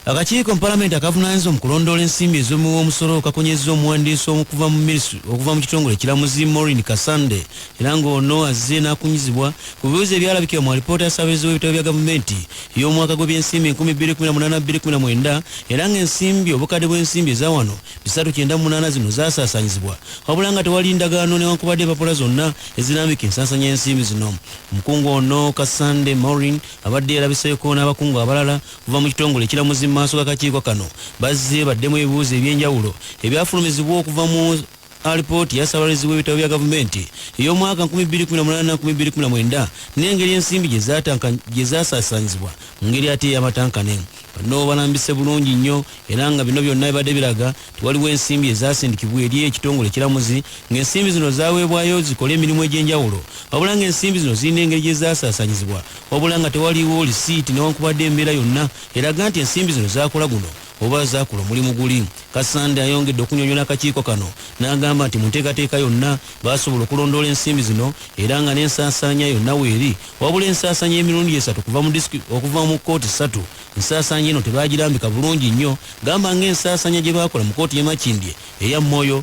akakiiko mupalamenti akavunanyizibwa mu kulondoola ensimbi ez'omuwa omusolo kakonyezza omuwandiisi okuva mu minisitule okuva mu kitongole kiramuzi morin kasande era ng'ono azze n'akunyizibwa ku bibuuzo ebyalabikira mu alipoota ya sabeezi w'ebitabo bya gavumenti y'omwaka gw'ebyensimbi 2018-2019 era ng'ensimbi obukadde bw'ensimbi eza wano bisatu kyenda munaana zino zaasaasaanyizibwa wabula nga tewali ndagaano newankubadde empapula zonna ezirambika ensaasanya y'ensimbi zino omukungu ono kasande morin abadde yalabiseeko n'abakungu abalala kuva mu kitongole ekiramuzi mu maaso g'akakiiko kano bazze baddemu ebibuuzo eby'enjawulo ebyafulumizibwa okuva mu alipooti ya ssaababalirizi w'ebitabo bya gavumenti ey'omwaka 2018-2019 n'engeri ensimbi gye zaasaasaanyizibwa mu ngeri ate ey'amatankane bano balambise bulungi nnyo era nga bino byonna bibadde biraga tiwaliwo ensimbi ezasindikibwa eri ekitongole ekiramuzi ng'ensimbi zino zaweebwayo zikole emirimu egy'enjawulo wabula ng'ensimbi zino zirina engeri gye zaasaasaanyizibwa wabula nga tewaliwo lisiiti newankubadde embeera yonna eraga nti ensimbi zino zaakola guno oba zaakula omulimu guli. Kasande ayongedde okunyonyola akakiiko kano n'agamba nti mu nteekateeka yonna baasobola okulondoola ensimbi zino era nga n'ensaasaanya yonna weeri wabula ensaasaanya y'emirundi esatu okuva mu okuva mu kkooti ssatu nsaasaanya eno tebaagirambika bulungi nnyo gamba ng'ensaasaanya gye baakola mu kkooti y'e Makindye, eya Moyo,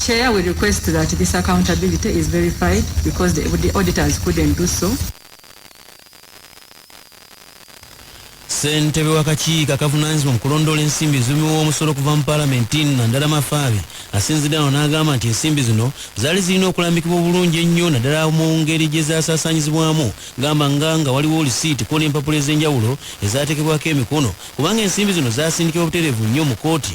Chair, we request that this accountability is verified because the, the auditors couldn't do so. ssentebe w'akakiiko akavunaanyizibwa mu kulondoola ensimbi ezuumiwa omusolo okuva mu palamenti nandala mafaabi asinzidde ano n'agamba nti ensimbi zino zaali zirina okulambikibwa obulungi ennyo naddala mu ngeri gye zaasaasaanyizibwamu gamba nga nga waliwo lisiiti ko n'empapula ez'enjawulo ezaateekebwako emikono kubanga ensimbi zino zaasindikibwa butereevu nnyo mu kkooti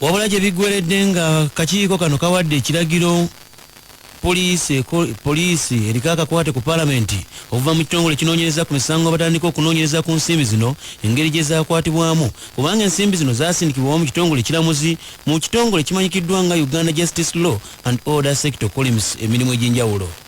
wabula gye biggweredde nga kakiiko kano kawadde ekiragiro poliisi poliisi eriko akakwate ku palamenti okuva mu kitongole ekinoonyereza ku misango batandika okunoonyereza ku nsimbi zino engeri gye zakwatibwamu kubanga ensimbi zino zasindikibwawo mu kitongole ekiramuzi mu kitongole kimanyikiddwa nga uganda justice law and order sector colims emirimu egy'enjawulo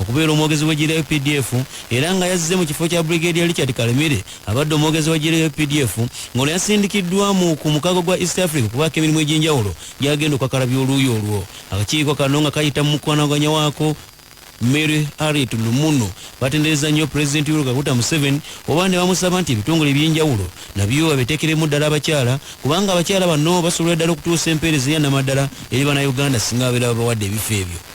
okubeera omwogezi w'eggye lya updf era nga yazze mu kifo kya Brigadier Richard Karemire abadde omwogezi w'eggye lya updf ng'ono yasindikiddwa mu ku mukago gwa East Africa okubaako emirimu egy'enjawulo gy'agenda okwakalabya oluuyi olwo akakiiko kano nga kayita mu mukwanaganya waako Mary Harriet Lumuno batendereza nnyo Pulezidenti Yoweri Kaguta Museveni oba ne bamusaba nti ebitongole eby'enjawulo nabyo babiteekeremu ddala abakyala kubanga abakyala bano basobola ddala okutuusa empeereza eya namaddala eri Bannayuganda singa babeera babawadde ebifo ebyo.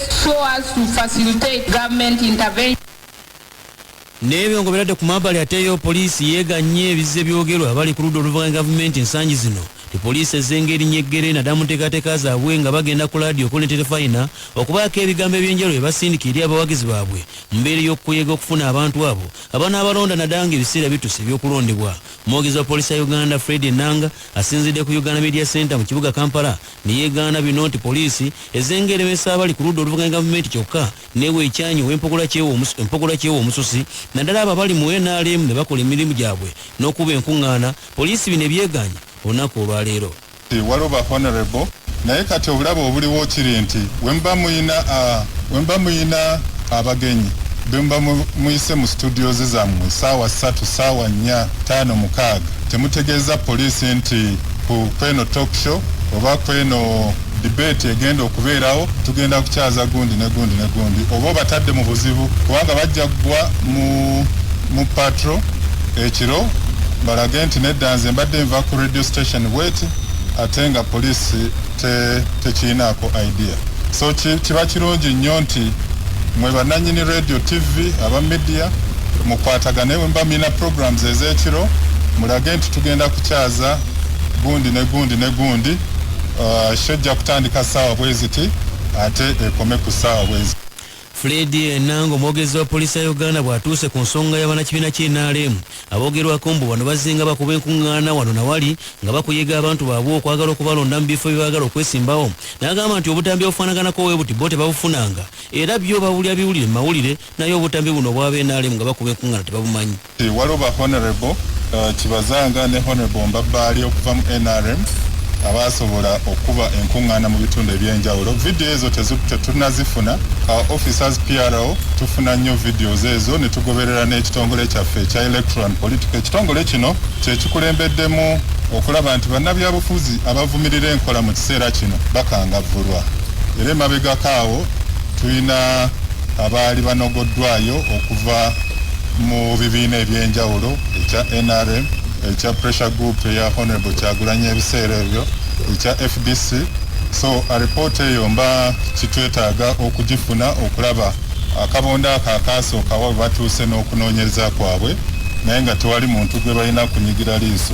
so as to facilitate government intervention. N'ebyo ng'obiradde ku mabbali ateeyo poliisi yeegannye ebizze byogerwa abali ku ludda oluvuganya gavumenti ensangi zino nti poliisi ezzenga erinnya eggere naddala mu nteekateeka zaabwe nga bagenda ku laadiyo ko ne terefayina okubaako ebigambo eby'enjawulo bye basindika eri abawagizi baabwe mu mbeera ey'okukuyega okufuna abantu abo abanaabalonda naddala ng'ebiseera bituuse eby'okulondebwa omwogezi wa poliisi ya uganda fred enanga asinzidde ku uganda media center mu kibuga kampala ne yeegaana bino nti poliisi ezzenga eremesa abali ku ludda oluvuganya gavumenti kyokka n'ewa ekyanyi ow'empogola empogola ky'ewa omususi naddala abo abali mu nrm ne bakola emirimu gyabwe n'okuba enkung'aana poliisi bino ebyegaanyi olunaku olwaleero. Waliwo ba Honourable naye kati obulabe obuliwo kiri nti wemuba muyina wemuba muyina abagenyi bemuba muyise mu studios zammwe saawa ssatu, saawa nnya, ttaano, mukaaga temutegeeza poliisi nti ku kweno talk show oba kweno debate egenda okubeerawo tugenda kukyaza gundi ne gundi ne gundi oba obatadde mu buzibu kubanga bajja kugwa mu, mu patro ekiro balage nti nedda nze mbadde nva ku radio station bweti ate nga poliisi tekirinaako idea so kiba kirungi nnyo nti mwe bananyini radio tv aba media mukwatagane wemba mulina programs ezekiro mulage nti tugenda kukyaza gundi ne gundi ne gundi uh, shojja kutandika saawa bweziti ate ekome ku saawa bweziti Fred Enanga omwogezi wa poliisi ya Uganda bw'atuuse ku nsonga ya bannakibiina ki NRM aboogerwako mbu bano bazinga bakuba enkungaana wano na wali nga bakuyega abantu baabwe okwagala okubalonda mu bifo bye baagala okwesimbawo n'agamba nti obutambi obufaanaganako bwe buti bo tebabufunanga era byo bawulira biwulire mu mawulire naye obutambi buno obwa ba NRM nga bakuba enkungaana tebabumanyi. Waliwo ba Honourable Kibazanga ne Honourable Mbabali okuva mu nrm abaasobola okukuba enkungaana mu bitundu eby'enjawulo. Video ezo tetunazifuna. Our office as PRO tufuna nnyo videos ezo ne tugoberera n'ekitongole kyaffe ekya Electoral and Political. Ekitongole kino kye kikulembeddemu okulaba nti bannabyabufuzi abavumirira enkola mu kiseera kino bakangavvulwa era emabegako awo tulina abaali banogoddwayo okuva mu bibiina ebyenjawulo ekya nrm ekya pressure group eya honorable kyagulanyi ebiseera ebyo ekya fdc so alipoota eyo mba kitwetaaga okugifuna okulaba akabondo ako akaasooka wa batuuse n'okunoonyereza kwabwe naye nga tewali muntu gwe balina kunyigira liiso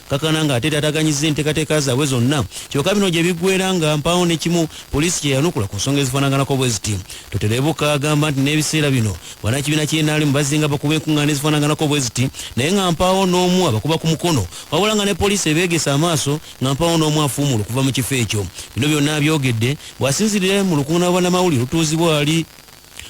kakana nga ate tataganyizza enteekateeka zaabwe zonna kyoka bino gye biggwera nga mpaawo ne kimu poliisi kye yanukula ku nsonga ezifaanaganako bwe ziti toterebuka agamba nti n'ebiseera bino banakibiina kyenaalimu bazinga bakuba enkuŋŋaana ezifaanaganako bwe ziti naye nga mpaawo n'omu abakuba ku mukono wabula nga ne poliisi ebeegesa amaaso nga mpaawo n'omu afuumuula okuva mu kifo ekyo bino byonna abyogedde bw'asinzirira mu lukuŋŋaana lwa bannamawulire lutuuzibwa ali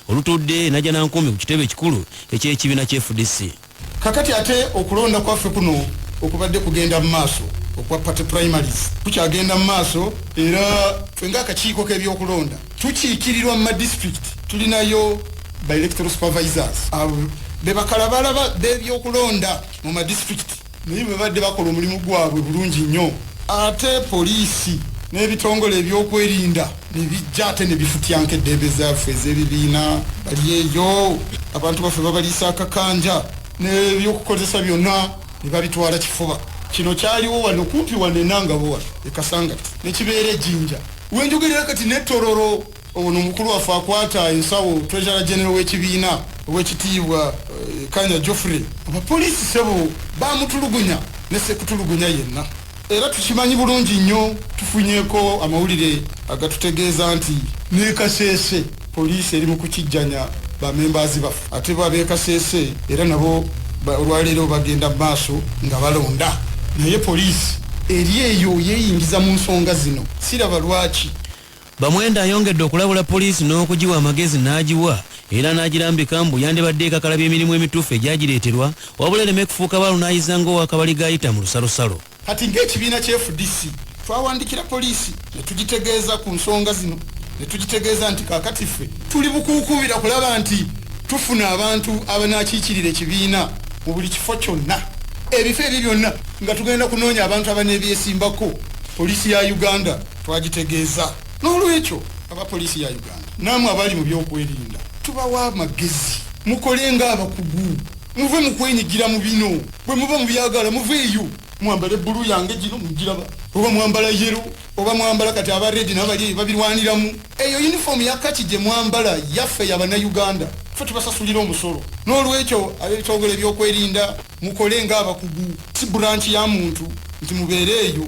olutudde e Najjanankumbi ku kitebe ekikulu eky'ekibiina kya fdc. Kakati ate okulonda kwaffe kuno okubadde kugenda mu maaso okwa party primaries kukyagenda mu maaso era ffe ng'akakiiko k'ebyokulonda tukiikirirwa mu madisitulikiti tulinayo ba electoral supervisors abo be bakalabalaba b'ebyokulonda mu madisitulikiti. naye bwe badde bakola omulimu gwabwe bulungi nnyo ate poliisi n'ebitongole ebyokwerinda ne bijja ate ne bifutyanka eddembe zaffe ez'ebibiina bali eyo abantu baffe babaliisa akakanja n'ebyokukozesa byonna ne babitwala kifuba kino kyaliwo wano kumpi wano enangabo wano ekasangati ne kibeera ejinja wenjogerera kati netororo Ono mukulu waffe akwata ensawo Treasurer General w'ekibiina ow'ekitiibwa eh, Kanya Geoffrey abapoliisi sebo bamutulugunya ne sekutulugunya yenna era tukimanyi bulungi nnyo tufunyeko amawulire agatutegeeza nti ne Kasese poliisi eri mu kukijjanya bamembaazi baffe ate bo ab'e Kasese era nabo ba- olwaleero bagenda mu maaso nga balonda naye poliisi eri eyo yeeyingiza mu nsonga zino siraba lwaki Bamwenda ayongedde okulabula poliisi n'okugiwa amagezi n'agiwa era n'agirambika mbu yandibadde ekakalabya emirimu emituufu egyagireeterwa wabula ereme kufuuka balunaayiza ng'owakabaliga ayita mu lusalosalo. Kati ng'ekibiina kya fdc twawandikira poliisi ne tugitegeeza ku nsonga zino ne tugitegeeza nti kaakati ffe tuli bukuukuubira kulaba nti tufuna abantu abanaakiikirira ekibiina mu buli kifo kyonna ebifo ebyo byonna nga tugenda kunoonya abantu abaneebyesimbako poliisi ya Uganda twagitegeeza n'olwekyo aba poliisi ya uganda naamwe abali mu byokwerinda tubawa amagezi mukole ng'abakugu muve mu kwenyigira mu bino bwe muba mubyagala muveeyo mwambale bulu yange gino mugiraba oba mwambala yero oba mwambala kati aba redi nabali babirwaniramu eyo uniform yakaki gye mwambala yaffe yabanauganda fe tubasasulira omusolo n'olwekyo abebitongole byokwerinda mukole ng'abakugu si buranki ya muntu nti mubeere eyo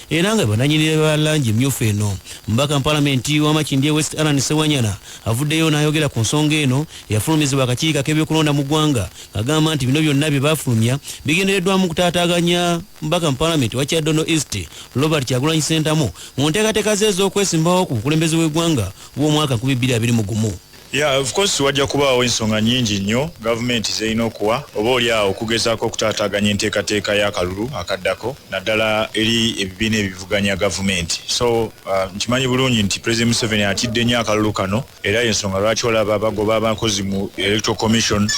era nga bananyini ba langi emyufu eno mubaka mu palamenti wa makindye west alan sewanyana avuddeyo n'ayogera ku nsonga eno eyafulumizibwa akakiiko ak'ebyokulonda mu ggwanga agamba nti bino byonna bye baafulumya bigendereddwamu kutaataaganya mubaka mu palamenti wa kyadono east robert kyagulanyi sentamu mu nteekateeka ze ez'okwesimbawo ku bukulembeze bw'eggwanga bw'omwaka 221 Yeah, of course wajja kubaawo ensonga nyingi nnyo gavumenti zerina okuwa oba oli awo okugezaako okutaataaganya enteekateeka y'akalulu akaddako naddala eri ebibiina ebivuganya gavumenti so uh, nkimanyi bulungi nti president museveni atidde nnyo akalulu kano era yensonga lwaki olaba bagoba abakozi mu electoral commission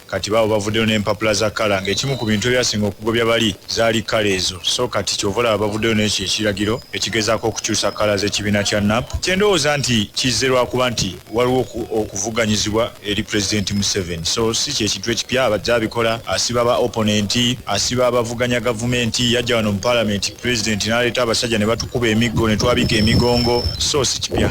Kati baabo bavuddeyo n'empapula za kkala ng'ekimu ku bintu ebyasinga okugobya bali zaali kkala ezo so kati ky'ova olaba bavuddeyo n'ekyo ekiragiro ekigezaako okukyusa kkala z'ekibiina kya nup kye ndowooza nti kizze lwakuba nti waliwo okuvuganyizibwa eri Pulezidenti Museveni so si kye kintu ekipya abadde abikola asiba ba oponenti, asiba abavuganya gavumenti, yajja wano mu Palamenti Pulezidenti n'aleeta abasajja ne batukuba emiggo ne twabika emigongo so si kipya.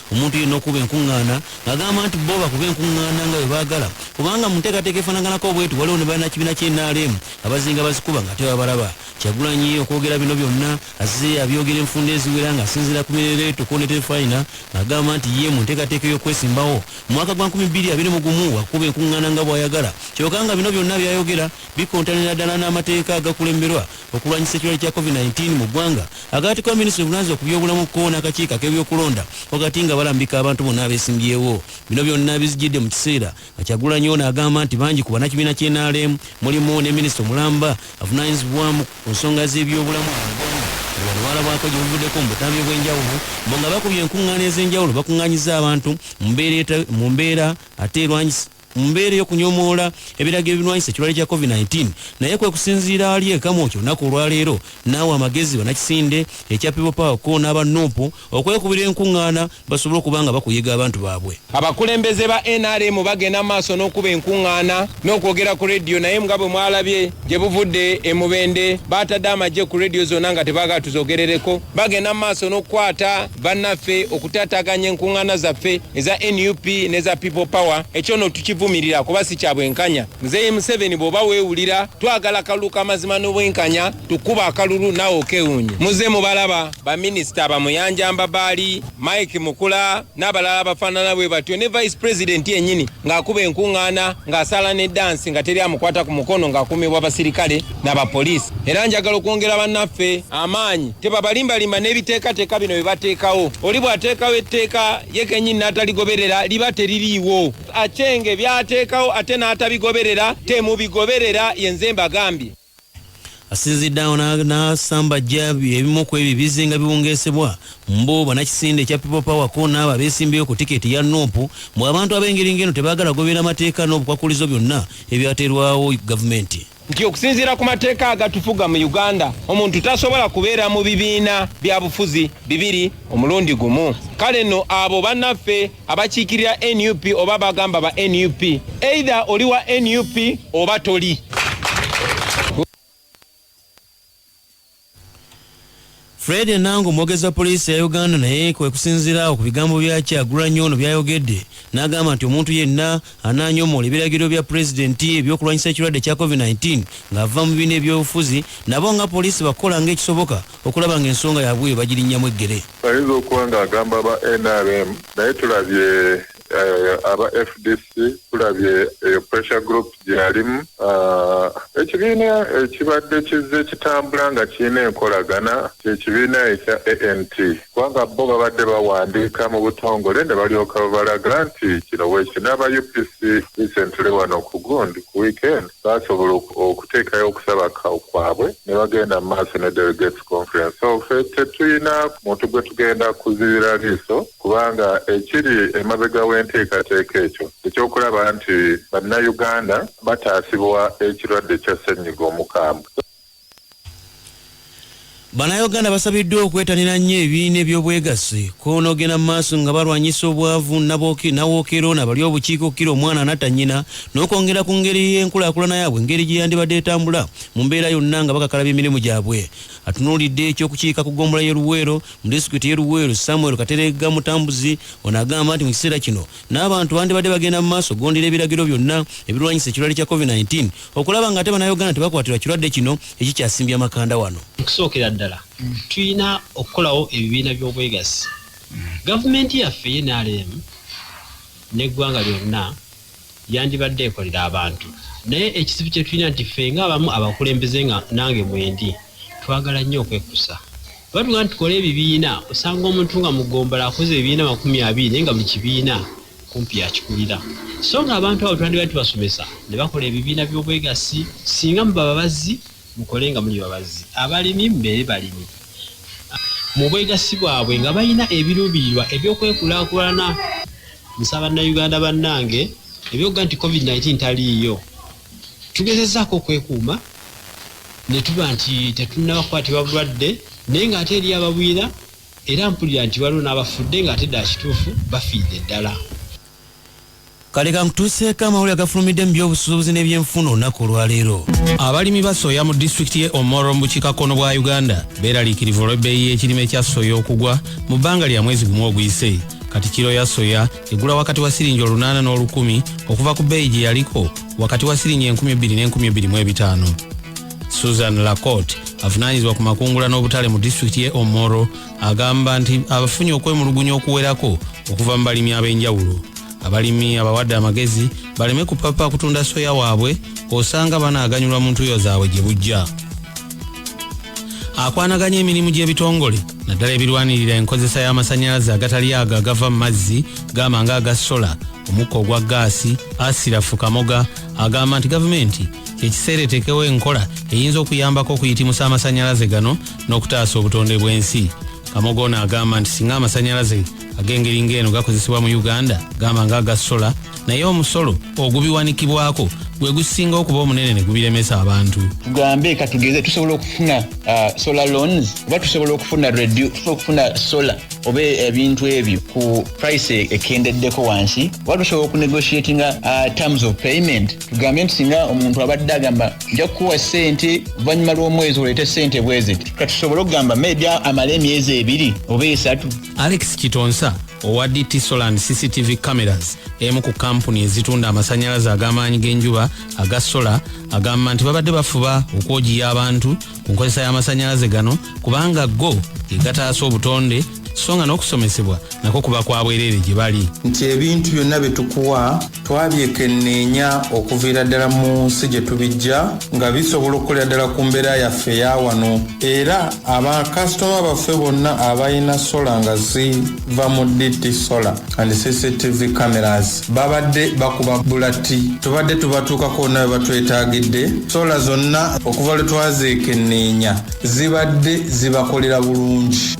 omuntu yenna okuba enkuŋŋaana ng'agamba nti bo bakuba enkuŋŋaana nga bwe baagala kubanga mu nteekateeka efaanaganako bweti waliwo ne bannakibiina kya nrm abazinga bazikuba ng'ate babalaba. Kyagulanyi okwogera bino byonna azze abyogera enfunda eziwera ng'asinziira ku mirerembe ebituuka ne terefayina ng'agamba nti ye mu nteekateeka ey'okwesimbawo mu mwaka gwa nkumi bbiri abiri mu gumu wakukuba enkuŋŋaana nga bw'ayagala kyoka nga bino byonna by'ayogera bikontanira ddala n'amateeka agakulemberwa okulwanyisa ekirwadde kya covid 19 mu ggwanga akakatiko ka minisitule evunanyizibwa ku byobulamu kko n'akakiiko ak'ebyokulonda wakati nga balambika abantu bonna abesimbyewo bino byonna bizijidde mu kiseera nga kyagulanyi ono agamba nti bangi ku banakibiina ky'enaalemu mulimu ne minisita omulamba avunanyizibwamu ku nsonga z'ebyobulamu balwalabwako gye buvuddeko mu butambi obw'enjawulo mbu nga bakubye enkuŋŋaana ez'enjawulo bakuŋŋanyiza abantu mu mbeera ate erwanyisa mu mbeera ey'okunyomoola ebiraga ebinwanyisa ekirwadde kya covid-19 naye kwe kusinziira ali eka mwokyo olunaku olwaleero naawe amagezi banakisinde ekya people power ko n'aba nup okwekubira enkuŋŋaana basobole okuba nga bakuyiga abantu baabwe abakulembeze ba nrm bagenda maaso n'okuba enkuŋŋaana n'okwogera ku rediyo naye nga bwe mwalabye gye buvudde e mubende baatadde amagye ku rediyo zonna nga tebaagala tuzogerereko bagenda maaso n'okukwata bannaffe okutaataaganya enkuŋŋaana zaffe eza nup n'eza people power ekyono tukivumirira kuba si kya bwenkanya muzeeyi museveni bw'oba weewulira twagala akalulu k'amazima n'obwenkanya tukuba akalulu naawe okewuunye muze mubalaba baminisita bamuyanja mbabaali mike mukula n'abalala abafaanana bwe batyo ne vice president yennyini ng'akuba enkuŋŋaana ng'asaala ne dansi nga teri amukwata ku mukono ng'akuumibwa basirikale n'abapoliisi era njagala okwongera bannaffe amaanyi tebabalimbalimba n'ebiteekateeka bino bye bateekawo oli bw'ateekawo etteeka ye kennyini n'ataligoberera liba teririiwo akyenge by'ateekawo ate n'atabigoberera temubigoberera yenze mbagambye asinziddeawo n'asambajja ebimu ku ebyo ebizinga biwungeesebwa mbu banakisinde ekya people power ko n'abo abeesimbeyo ku tiketi ya nuupu mu abantu ab'engeri ng'eno tebaagala gobeera amateeka n'obukwakulizo byonna ebyateerwawo gavumenti nti okusinziira ku mateeka agatufuga mu Uganda omuntu tasobola kubeera mu bibiina bya bufuzi bibiri omulundi gumu kale no abo banaffe abakiikirira nup oba bagamba ba nup either oli wa nup oba toli Fred Enanga omwogezi wa poliisi ya Uganda naye kwe kusinziiraawo ku bigambo bya Kyagulanyi ono byayogedde n'agamba nti omuntu yenna anaanyomoola ebiragiro bya pulezidenti eby'okulwanyisa ekirwadde kya COVID-19 ng'ava mu bibiina ebyobufuzi nabo nga poliisi bakukola ng'ekisoboka okulaba ng'ensonga yaabwe bagirinyamu eggere. Ayinza okuba ng'agamba ba nrm naye tulabye Eh, aba fdc tulabye eyo eh, pressure group gyeyalimu ah, ekibiina ekibadde eh, kizze kitambula nga kirina enkolagana kyekibiina ekya ant kubanga bo babadde bawandiika mu butongole ne balyoka babalaga nti kino wekina aba upc recently wano ku gund ku weekend basobola okuteekayo okusaba kwabwe ne bagenda mu maaso ne delegates conference so fe tetulina muntu gwe tugenda kuzibira liiso kubanga ekiri emabega w'enteekateeka ekyo eky'okulaba nti Bannayuganda bataasibwa ekirwadde kya ssennyiga omukambwe. Bannayuganda basabiddwa okwetanira nnyo ebibiina eby'obwegassi kw'onoogenda mu maaso nga balwanyisa obwavu nawookeerona abali obukiiko kukira omwana anatta nnyina n'okwongera ku ngeri y'enkulaakulana yaabwe engeri gye yandibadde etambula mu mbeera yonna nga bakakalabya emirimu gyabwe. Atunuulidde eky'okukiika ku ggombolola y'e Luweero mu disitulikiti y'e Luweero Samuel Kateregga Mutambuzi ono agamba nti mu kiseera kino n'abantu bandibadde bagenda mu maaso okugondera ebiragiro byonna ebirwanyisa ekirwadde kya COVID-19 okulaba ng'ate Bannayuganda tebakwatirwa kirwadde kino ekikyasimbye amakanda wano. Okusookera ddala tulina okukolawo ebibiina by'obwegassi gavumenti yaffe ye NRM n'eggwanga lyonna yandibadde ekolera abantu naye ekizibu kyetulina nti ffe nga abamu abakulembeze nga nange mwendi twagala nnyo okwekkusa bwebatugamba nti tukola ebibiina osanga omuntu nga muggombolola akoze ebibiina makumi abiri naye nga buli kibiina kumpi yakikulira so nga abantu abo twandibadde tubasomesa nebakola ebibiina byobwegassi singa muba babazzi Mukole nga muli babazzi. Abalimi mubeere balimi mu bwegassi bwabwe nga balina ebiruubirirwa eby'okwekulaakulana. Nsaba Bannayuganda bannange, eby'okuga nti Covid nineteen taliiyo, tugezezzaako okwekuuma ne tuba nti tetunnaba kukwatibwa bulwadde naye ng'ate eriyo ababwira era mpulira nti waliwo n'abafudde ng'ate ddala kituufu bafiiridde ddala. Kale kankutuuseeko amawulire agafulumidde mu byobusuubuzi n'ebyenfuna olunaku olwaleero. Abalimi ba soya mu disitulikiti ye Omoro mu bukiikakkono bwa Uganda beeraliikirivu olw'ebbeeyi y'ekirime kya soya okugwa mu bbanga lya mwezi gumu oguyise. Kati kiro ya soya egula wakati wa siringi olunaana n'olukumi okuva ku bbeeyi gye yaliko wakati wa siringi enkumi ebbiri n'enkumi ebbiri mu ebitaano. Susan Lacote avunaanyizibwa ku makungula n'obutale mu disitulikiti ye Omoro agamba nti abafunye okwemulugunya okuwerako okuva mu balimi ab'enjawulo abalimi abawadde amagezi baleme kupapa kutunda soya waabwe osanga banaaganyulwa mu ntuuyo zaabwe gye bujja akwanaganya emirimu gy'ebitongole naddala ebirwanirira enkozesa y'amasannyalaze agatali ago agava mu mazzi gamba nga aga sola omukka ogwa gaasi asirafu kamoga agamba nti gavumenti kyekiseera eteekewo enkola eyinza okuyambako okuyitimusa amasannyalaze gano n'okutaasa obutonde bw'ensi kamoga ono agamba nti singa amasanyalaze ag'engeri ng'eno gakozesebwa mu uganda gamba nga aga sola naye omusolo ogubiwanikibwako gwe gusinga okuba omunene ne gubiremesa abantu gambe katugeze tusobola okufuna uh, solar loans oba tusobola okufuna redu tusobola okufuna solar oba ebintu ebyo ku price ekendeddeko wansi oba tusobola okunegotiatinga uh, terms of payment tugambye nti singa omuntu abadde agamba nja kukuwa ssente oluvannyuma lw'omwezi oleete ssente bweziti katusobole okugamba maybe amale emyezi ebiri oba esatu alex kitonsa owa dt soland cctv cameras emu ku kampuni ezitunda amasanyalaze ag'amaanyi g'enjuba aga sola agamba nti babadde bafuba okwogiya abantu ku nkozesa y'amasannyalaze gano kubanga go ge gataasa obutonde so nga n'okusomesebwa nakwo kuba kwa bwereere gye bali nti ebintu byonna bye tukuwa twabyekenneenya okuviira ddala mu nsi gye tubijja nga bisobola okukolera ddala ku mbeera yaffe eya wano era abakasitoma baffe bonna abalina sola nga zi va mu DT Solar and CCTV cameras babadde bakuba bulati tubadde tubatuukako nawe batwetagidde sola zonna okuva lwe twazeekenneenya zibadde zibakolera bulungi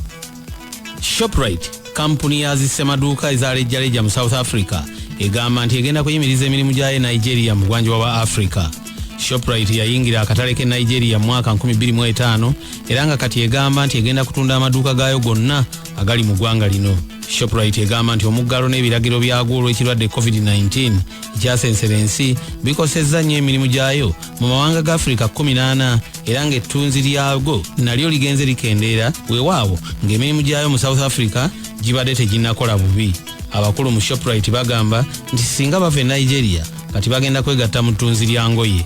Shoprite kampuni ya zissemaduuka eza lejjaleja mu South Africa egamba nti egenda kuyimiriza emirimu gyayo e Nigeria mu bwanjuba bwa Africa Shoprite yayingira akatale k'e Nigeria mu mwaka 2025 era nga kati egamba nti egenda kutunda amaduuka gaayo gonna agali mu ggwanga lino shoprite egamba nti omuggalo n'ebiragiro byagwo olw'ekirwadde covid-19 ekyasensera ensi bikosezza nnyo emirimu gyayo mu mawanga ga afirika 14 era ng'ettunzi lyalwo nalyo ligenze likendeera weewaawo ng'emirimu gyayo mu south africa gibadde teginakola bubi abakulu mu shoprite bagamba nti singa bava e nigeria kati bagenda kwegatta mu ttunzi lya ngoye